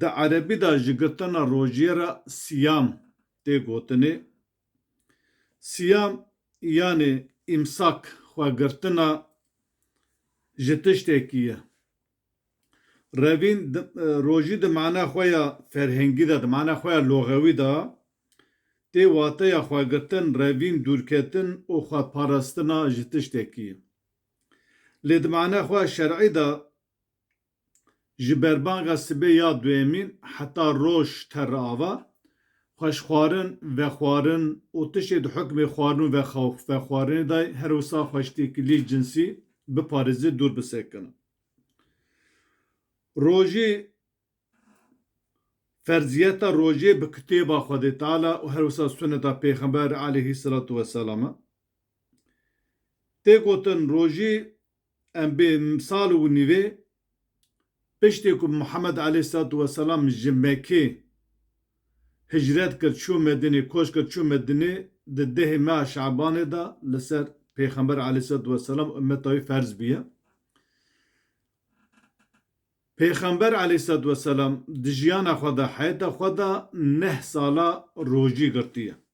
Di erebî de ji girtina rojiyê re siyam tê gotinê. Siyam yanê îmsak, xwegirtina ji tiştekî ye. Revîn rojî di mana xwe ya ferhengî de, di mana xwe ya loxewî de tê wateya xwegirtin, revîn, dûrketin û xweparastina ji tiştekî ye. Lê di mana xwe ya şer'î de Ji berbanga sibê ya duyemîn heta roj ter re ava, xweşxwarin, vexwarin û tiştê di hukmê xwarin û vexwarinê de ye, her wisa xweştêkilî cinsî biparêzê dûr bisekinin. Rojê, ferziyeta rojê bi kitêba Xwedê Teala û her wisa suneta Pêxember aleyhî selatû weselam e. Tê gotin rojê Em bê sal û nîvê piştî ku Muhemed aleyhsalatu weselam ji Mekê hicret kir çû Medinê, koç kir çû Medinê di dehê meha Şabanê de li ser Pêxember aleyhsalatu weselam û ummeta wî ferz bûye. Pêxember aleyhsalatu weselam di jiyana xwe de, heyeta xwe de neh sala rojî girtiye.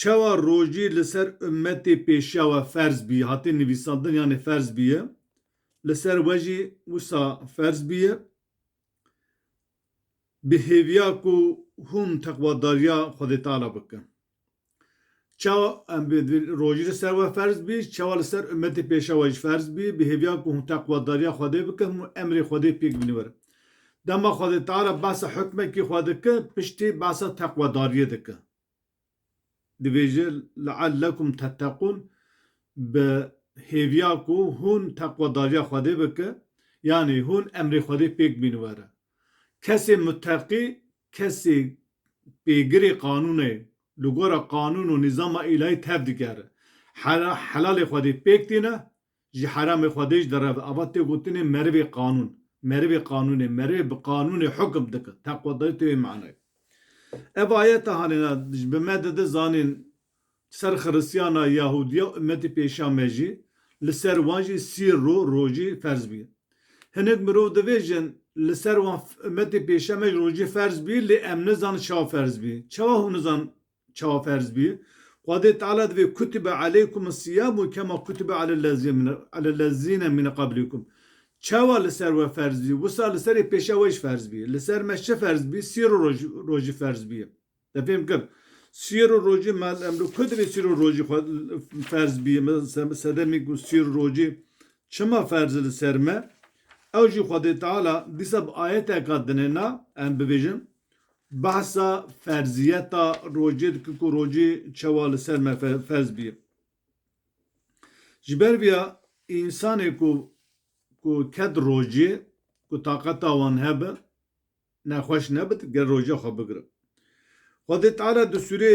Çawa rojî li ser ummetê pêşiya we ferz bîye, hate nivîsandin yanê ferz bîye, li ser we jî wisa ferz bîye. Bi hêviya ku hûn teqwadariya Xwedê Teala bikin. Çawa em bi rojî li ser we ferz bî, çawa li ser ummetê pêşiya we jî ferz bî, bi hêviya ku hûn teqwadariya Xwedê bikin, hûn emrê Xwedê pêk bînin werin. Dema xwedêtara behsa hukmekî xwe dike, piştî behsa teqwedariyê dike. Dibêje leellekum tetteqûn bi hêviya ku hûn teqwedariya Xwedê bike, yanî hûn emrê Xwedê pêk bîn were. Kesê muteqî, kesê pêgirê qanûnê li gora qanûn û nîzama îlahî tev digere. Helalê Xwedê pêk tîne, Ji heramê Xwedê jî dereve. Ava tê gotinê merivê qanûn. Merivê qanûnê, merivê bi qanûnê hukum dike. Teqwedayî tê wê manayê. Ev ayete hanêna ji bi me dide zanîn ser xiristiyana, yahudiya û ummetê pêşa me jî, li ser wan jî sî ro, rojî, ferz bî. Hinek mirov divêjin, li ser wan, ummetê pêşa me jî rojî ferz bî lê em nizanin çawa ferz bî. Çawa hûn nizanin Çawa ferz bûye? Xwedê Teala divê kutibe aleykum siyamu kema kutibe alellezîne mîne qablîkum. Çawa li ser we ferz bûye, wisa li serê pêşa we jî ferz bûye. Li ser me çi ferz bûye? Sîr û rojî ferz bûye. Te fêm kir? Sîr û rojî me em li ku divê sîr û rojî xwe ferz bûye? Me sedemî ku sîr û rojî çima ferz e li ser me? Ew jî Xwedê Teala dîsa bi ayeteke dine na em bibêjin, Behsa ferziyeta rocê dike ku rocê çewa li ser me ferz bî. Ji ber vêya însanê ku ku ket rocê ku taqeta wan hebe ne xweş nebit ger roca xwe bigirin. Xwedê Teala di sûrê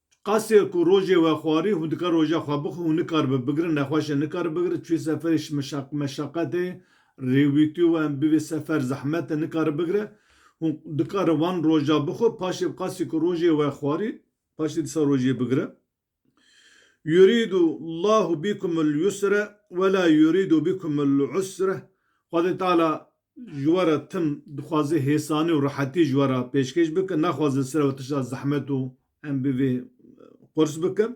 Qasê ku rojê we xwarî hûn dikar roja xwe bixwin hûn nikaribin bigrin nexweşe nikari bigrin çûyê seferê şimeşaq meşaqet ê rêwîtî wan bivê sefer zehmet e nikari bigre hûn dikarin wan roja bixwin paşê bi qasê ku rojê we xwarî paşê dîsa rojê bigrin Yurîdu llahu bîkumul yusre wela yurîdu bîkumul usre Xwedê Teala Ji we re tim dixwaze hêsanî û rehetî ji we re pêşkêş bike, naxwaze sere we tişta zehmet û em bi vê qurs bikin.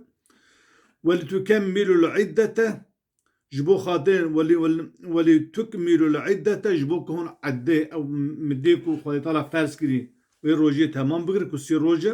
Welî tu kem Mîlûl'îd de te ji bo xatirê welî welî tuk Mîlûl'îd de te ji bo ku hûn eddê ew midê ku Xwedê Teala ferz kirî wê rojê temam bigire ku sê roj e.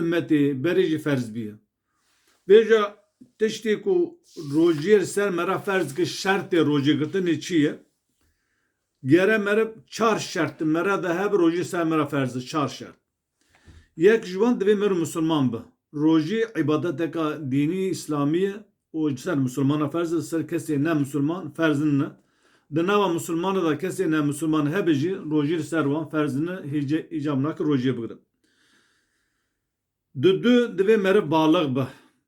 Immetê berê jî ferz bîye. Bêje tiştê ku rojiyê li ser me re ferz kir şertê rojê girtinê çi ye? Gere meriv çar şert di me re de hebe rojî li ser me re ferz e. Çar şert. Yek ji wan divê meriv misilman be. Rojî îbadeteke dînî îslamî ye û ji ser misilmanan ferz e, ji ser kesên ne misilman ferz nine, di nava misilmanan de kesên ne misilman hebe jî rojî li ser wan ferz nine, hêje îcab nake rojiyê bigirin. Di du divê meriv baliq be,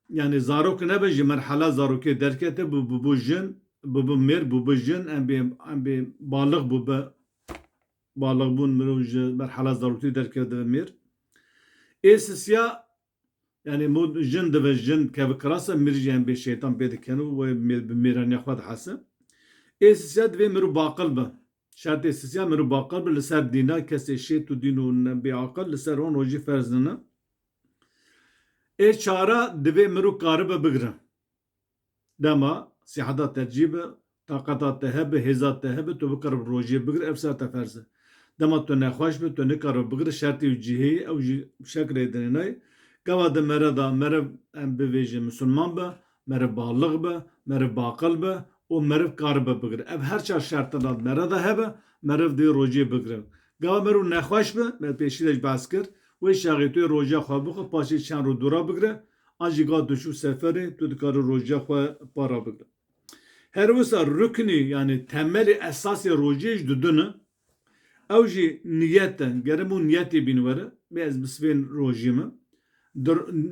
yanî zarok nebe ji merhela zarokiyê derkete bû bû jin, bû mêr, bû jin, em bê em bê baliq bû be, baliqbûn mirov ji merhela zarokiyê derkeve dibe mêr. Ê sisiya Yanî mû jin dive jin keve kirasa mirî yan bê şeytan pê dikin û wê bi mêraniya xwe dihese. Ê sisiya divê mirov baqil be. Şertê sisiya mirov baqil be li ser dîna kesê şêt û dîn û bêaqil li ser wan rojî ferz nine. Ê çara divê mirov karibe bigire. Dema sîheta te cî be, taqeta te hebe, hêza te hebe, tu bikaribî rojiyê bigirî ev ser te ferz e. Dema tu nexweş bî, tu nikaribî bigirî şertê û cihêyê ew jî bi şekilê dinê nayê. Gava di mere de meriv em bivêjin misilman be, meriv balix be, meriv baqil be û meriv karibe bigire. Ev her çar şertina di mere de hebe, meriv dê rojiyê bigire. Gava meriv nexweş be, me pêşî de jî behs kir, wê şaxê tu yê rojiya xwe bixwe, paşê çend roj dûra bigire, An jî gat tu çû seferê, tu dikarî rojê xwe para bigre. Her wisa ruknî yanî temelê esasê rojê jî di dun e. Ew jî niyet e. Gere bo niyetê bîn were, bê ez bi sivên rojê min. Di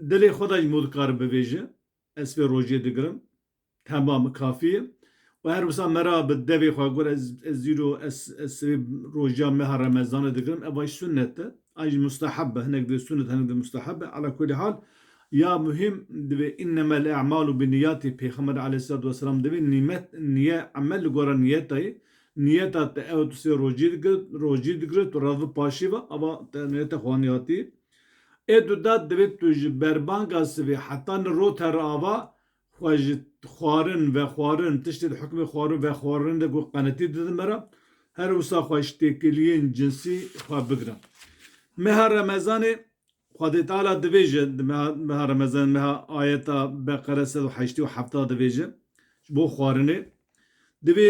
dilê xwe de jî bo dikare bivêje, ez sivê rojê digirim. Temam kafî ye. Û her wisa me ra bi devê xwe got ez ez îro ez ez sibê roja meha remezanê digirim eva jî sunnet e. A jî musteheb be hinek dê sunnet hinek dê musteheb be. Ala kulî hal ya muhîm divê innemel emalu binîyatî pêxember aleyhîsselatu weselam divê nîmet nîye emel li gora nîyeta ye. Nîyeta te ew tu sê rojî digir rojî digire tu rev bipaşî ve eva te nîyeta xwe anî hatî. Ê tu de divê tu ji berbanga sibê heta li rot here ava Xwe ji xwarin, vexwarin, tiştê di hukmê xwarin, vexwarin de ku qenetî didin me re, her wisa xwe ji têkiliyên cinsî xwe bigirin. Meha Remezanê, Xwedê Teala dibêje, di meha meha Remezanê, meha ayeta Beqere sed û heştê û hefta dibêje, ji bo xwarinê, Divê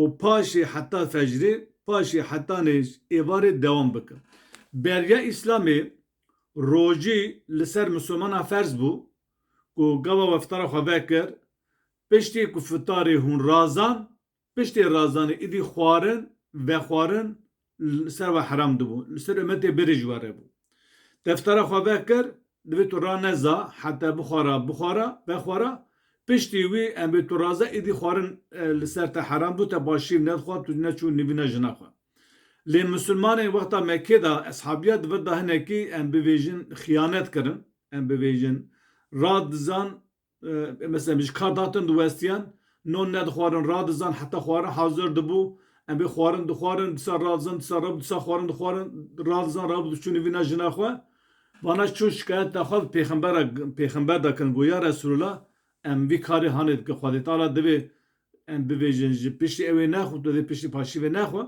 Û paşê heta fecrê, paşê heta nêz êvarê dewam bike. Beriya Îslamê rojî li ser misilmanan ferz bû ku gava we fitara xwe vekir, piştî ku fitarê hûn razand, piştê razanê êdî xwarin, vexwarin li ser we heram dibû, li ser umetê birî ji we re bû. Deftera xwe vekir, divê tu raneza heta bixwara, bixwara, vexwara, piştî wî em bê tu raze îdî xwarin li ser te heram bû, te başîr nedixwar, tu neçû nîvîna jina xwe. Lê misilmanên wexta Mekkê de, eshabîya di vir de hinekî em bivêjin xiyanet kirin, em bivêjin ra dizan, Mesela min ji ka datin diwestiyan non nedixwarin radizan heta xwarin hazir dibû em bê xwarin dixwarin disa radizan disa rabû disa xwarin dixwarin radizan rabû diçûnî vîna jina xwe vana çû şikayeta xwe bi pêxembera pêxember de kirin got ya Resûlullah em vî karê hanê dikin Xwedê Teala divê em bibêjin ji piştî ewê nexwe tu dê piştî paşîvê nexwe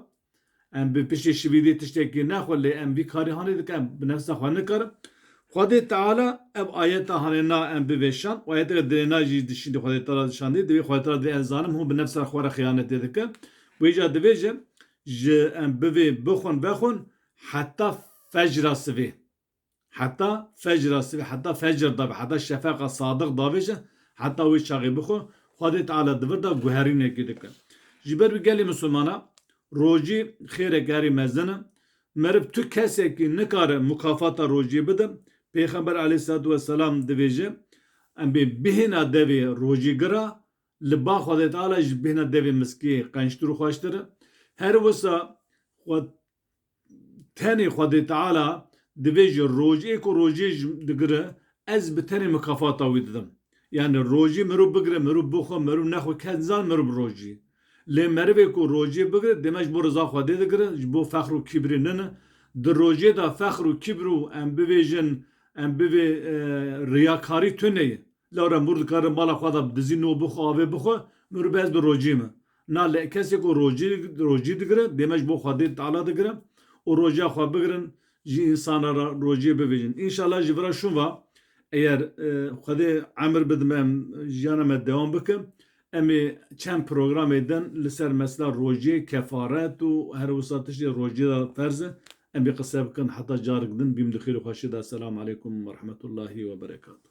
Em bi piştê şivîdê tiştekî ne xwe lê em vî karî hanê dike em bi nefsa xwe nikarin. Xwedê Teala ev ayeta hanê na em bivêşand û ayeteke dirê na jî di şîndê Xwedê Teala de şandî divê Xwedê Teala divê ez zanim hûn bi nefsa xwe re xiyanetê dikin û îcar divê ji ji em bivê bixwin vexwin heta fecra sivê. Heta fecra sibê, heta fecr davê, heta şefeqa sadiq davê jî heta wê çaxê bixwe, Xwedê Teala di vir de guherînekê dike. Ji ber wî gelê misilmanan rojî xêreke herî mezin e. Meriv tu kesekî nikare mukafata rojiyê bide. Pêxember aleyhîsselatu weselam dibêje, Em bê bihêna devê rojîgir a, li ba Xwedê Teala jî bihêna devê miskiyê qençtir û xweştir e. Her wisa xwe Tenê Xwedê Teala divê ji rojê ku rojê ji digire ez bi tenê mikafata wî didim. Yanî rojê mirov bigire mirov bixwe mirov nexwe kes nizane mirov roj î. Lê merivê ku rojê bigire dême ji bo riza Xwedê digire ji bo fexr û kîbrê nine. Di rojê de fexr û kîbr û em bibêjin em bivê riyakarî tune ye. Lara mor dikare mala xwe de bi dizî no bixwe, avê bixwe, min rû bi ez di rojî me. Na li kesê ku rojî rojî digire, dême ji bo Xwedê Teala digire û roja xwe bigirin ji însanan re rojiyê bivêjin. Înşala ji vira şûn ve eyer Xwedê emir bidime jiyana me dewam bike, Em ê çend programê din li ser mesela rojê, kefaret û her wisa tiştê rojê de ferz e. Em ê qise bikin heta carik din bîm di xêr û xweşiyê de. Selam aleykum werehmetullahî weberekatuh.